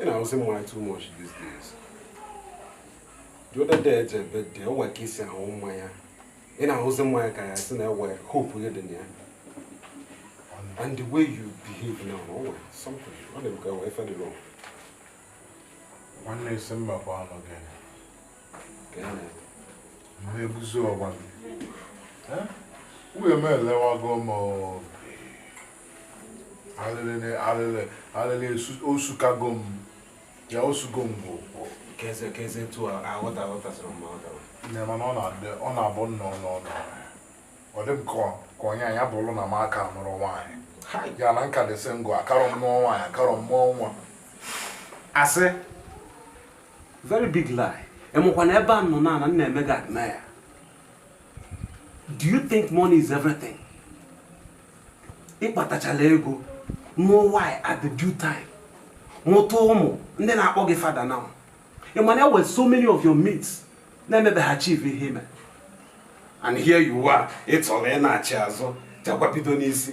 ị na-aṅụzi mmanya too much these days the other day eje ebe dị o nwere ka i si aṅụ mmanya ị na-aṅụzi mmanya ka a sị na ewe hope gị dị na ya and the way you behave now o nwere something ọ dị ka e nwe ife dị wrong nwanne isi mba bụ anụ gị na-ebuzi ọgba wee m elewago m alịlị osukago m ya osugo m bụ mana ọ na-abụ nnọọ n'ọnụ ọ dị m ka onye anya bụrụ na m aka nụrọ nwaanyị ya na nka dị sị ngụ akarọ m nụọ nwaanyị akarọ m mụọ nwa asị very big lie ị makwa na ebe a m nọ na m na-eme gị admire do you think money is everything ị kpatachala ego nụọ wife at the due time mụta ụmụ ndị na-akpọ gị father na ị ma na e nwe so many of your mates na-emebeghị achieve ihe i me and here you are ị chọrọ ịnachi azụ jekwa bido n'isi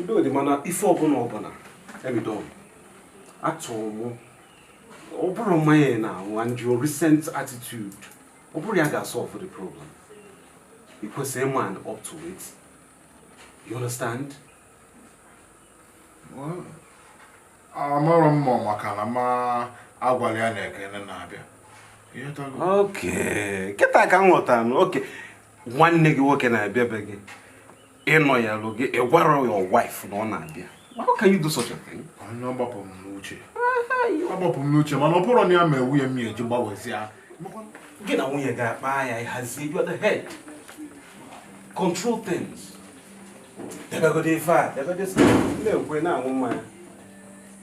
udo dị mana ife ọbụla ọbụla ebido atụrụ mụ ọ bụrụ mmanya ị na-aṅụ and your recent attitude ọ bụrụ ya ga-asolve the problem ị kwesịrị ịman up to it you understand amarọ m ma maka na m agwala ya na ekene na-abịa okay kịta ka m ghọtara okay nwanne gị nwoke na-abịa be gị ịnọ ya lụ gị ị gwarọ your wife na ọ na-abịa how can you do such a thing? onye ọ gbapụ m n'uche agbapụ m n'uche mana ọ bụrụ na ya ma ewu ya m ya eji gbawezie gị na nwunye gị akpaa ya ị hazie you are the head control things debegode ife a debegode na-ekwe na-aṅụ mmanya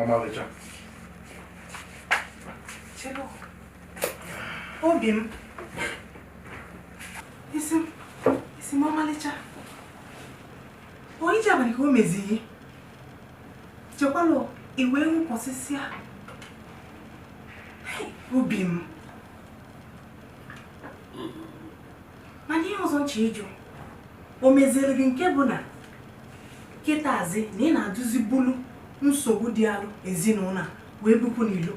ọmalịcha obi m isi m isi m ọmalịcha onye ji abalị ka o mezie chịkọlụ iwe wụkwasịsịa obi m mana ihe ọzọ m chọ ịjụ o meziere gị nke bụ na kịtazi na ị na-adụzi bulu nsogbu dịalụ ezinụlọ a wee bupụ n'ilo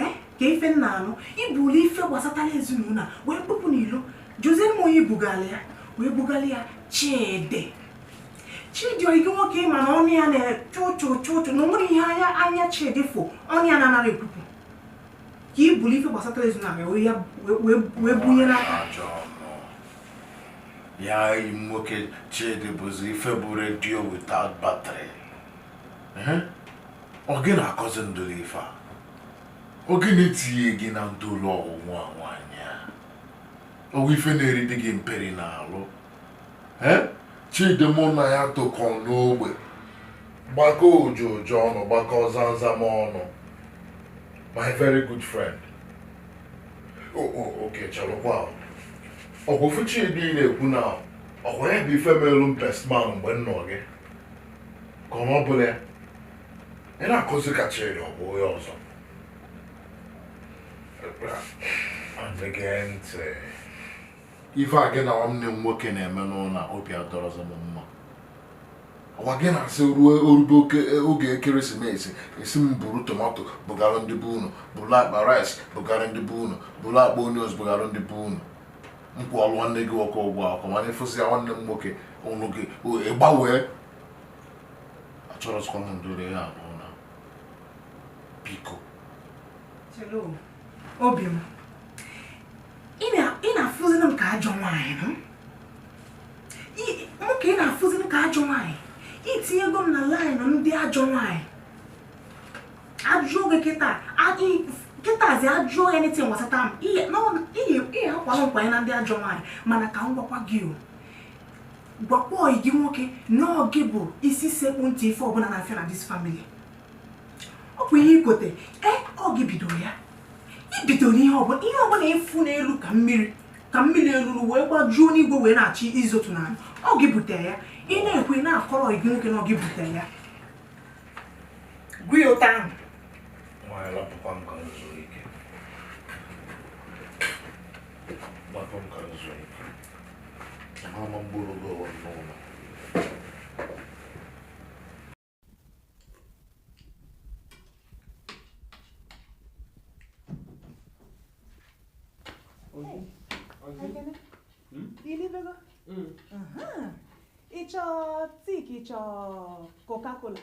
eh? kee ife m na-anụ i bulu ife gbasatara ezinụlọ a wee bupụ n'ilo jụzie m onye i bugalụ ya wee bugalụ ya chidi chidi oyi gị nwoke ị ma na ọnụ ya na-echụ ụchụ ụchụ ụchụ na o nwerọ ihe anya anya chidi fụ ọnụ ya na-anarọ ekwupụ ka ị buru ife gbasatara ezinụlọ wee bunye n'aka ya enyi m nwoke chidi bụzi ife bụ redio without battery ọ gị na-akọzi ndụlụ ife a ọ gị na-etinye gị na ndụlụ ọgwụgwụ a nwaanyị a o nwe ife na-eri di gị mperi n'alụ chidi mụ na ya tokọ n'ogbe gbakọ ojo ojo ọnụ gbakọ zanzam ọnụ my very good friend okay chelụkwa ọkwụfụ chidi na-ekwu na ọkwa ya bụ ife melu m bestman mgbe m nụ gị ka ọ bụla ya ị na-akọzi ka chidi ọ bụ onye ọzọ Again, ife a gị na nwanne m nwoke na-eme n'ụlọ a obi adọrọzọ m mma ọkwa gị na-asị ruo o rube oge ekeresimesi ị sị m buru tomato bugara ndị be unu buru akpa rice bugara ndị be unu buru akpa onions bugara ndị be unu m kwụọlụ nwanne gị nwoke ụgwọ akwụkwọ mana ị fụsịa nwanne m nwoke ụnụ gị ịgbanwee achọrọzikwa m ndụrụ ya n'ụlọ biko obi m ị na-afụziri m ka ajọ nwaanyị ọ mụ ka ị na-afụziri m ka ajọ nwaanyị i tinyego m na laịnụ ndị ajọ nwaanyị ajụọ gị kịta kịtazi ajụọ ya n'eti nwasata m ị kwara m kwanye na ndị ajọ nwaanyị mana ka m gwakwa gị o gwakwa oyi gị nwoke na ọ gị bụ isi sekpu ntị ife ọbụla na-afịa na this family. ọ bụ ihe igote e, ọ gị bidoro ya i bidoro ihe ọbụla ihe ọbụla ị fụ n'elu ka mmiri ka mmiri eluru wee gbajuo n'igwe wee na-achọ izotu n'ala ọ gị bute ya ị na-ekwe na-akọrọ gị nwoke na ọ gị bute ya gụọ ya ụta ahụ Mama mgboro gị ọwa n'ụlọ ị chọ tea ka ị chọ coca-cola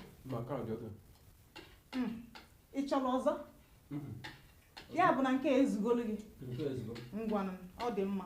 ị chọrọ ọzọ ya bụ na nke a ezugolu gị ngwanụ ọ dị mma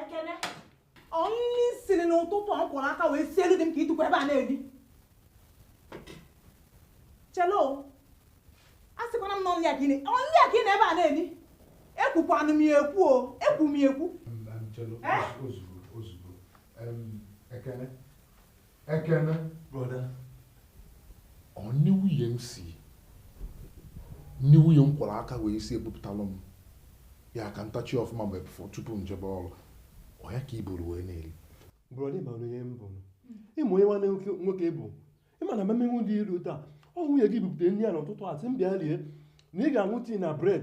Ekene. Ọnụnị siri n'ụtụtụ ọ kwụrụ aka wee sie elu dị m ka itukwa ebe a na-ebi. Chelo, a sịkwana m na ọnụ ya ka ị na- ọnụ ya ka ị na ebe a na-ebi. Ekwukwanụ m ya ekwu o, ekwu m ya ekwu. Em, em, Chelo, Eh? ozugbo ozugbo Em, ekene Ekene. Broda. Ọ nni nwunye m si nni nwunye m kwọrọ aka wee sie ebupụtalụ m ya ka m tachie ọfụma mgbe bụfọ tupu m jebe ọrụ ọ ya ka i buru wee na-eri brọda ị ma onye m bụ ị ma ihe nwanne nwoke bụ ị ma na mmemme dị iru taa ọ nwunye gị bupụta nri a n'ụtụtụ a sị m bịa rie na ị ga-aṅụ tii na bred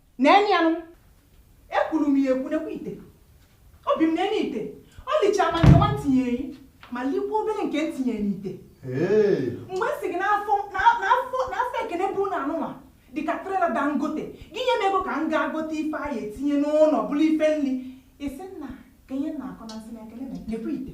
neenụ ya nụ ekwuru m ya ekwu nekwa ite obi m neenụ ite ọ lichara ma nke nwa m tinyeere gị ma likwa obere nke m tinye n'ite mgbe m sị gị na afọ Ekene bụ na anụnwa dịka trela dangote gị nye m ego ka m gaa gote ife a ya-etinye n'ụnọ bụrụ ife nri ị sị m na kee ihe m na-akọ m sị na Ekene nekwa ite